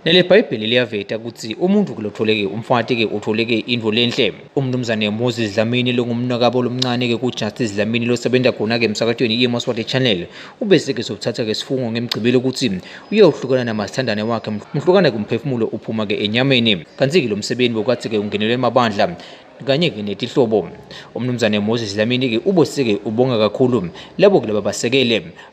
Leli Bhayibheli liyaveta ukuthi umuntu kulotholeke umfati-ke utholeke into lenhle. UMnumzane Moses Dlamini longumnakabo lomncane-ke kuJustice Dlamini losebenza khona-ke emsakatweni iMoswati Channel ubeseke sokuthatha-ke isifungo ngemgcibelo ukuthi uyohlukana namasithandane wakhe mhlukana kumphefumulo uphuma-ke enyameni. Kanti-ke lo msebenzi bokathi-ke ungenelwe amabandla kanye-ke netihlobo. UMnumzane Moses Dlamini-ke uboseke ubonga kakhulu labo kulaba basekele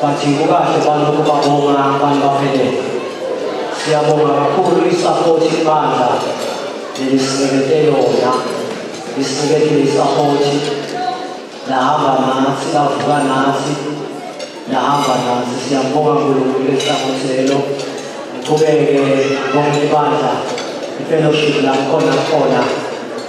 But kukahle balokhu babonga abantu baphelele. Siyabonga kakhulu isapoti ibandla nelisinekete yona. Lisinekete isapoti lahamba nathi lavuka nathi lahamba nathi siyabonga nkulunkulu esapoti lelo ngiqhubeke bonke ibandla ifellowship lakhona khona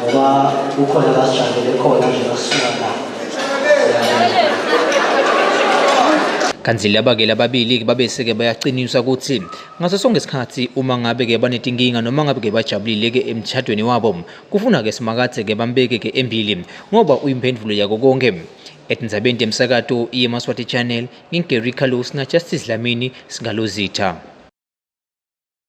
ngoba kukhona abasijabele khona nje basuka la kanti laba ke lababili ke babese ke bayaqiniswa ukuthi ngaso sonke isikhathi uma ngabe ke banetinkinga noma ngabe ke bajabulile ke emtshadweni wabo kufuna ke simakathe ke bambeke ke embili ngoba uyimphendulo yako konke etindzabeni temsakato iye maswati channel ngingary carlos na justice lamini singalozitha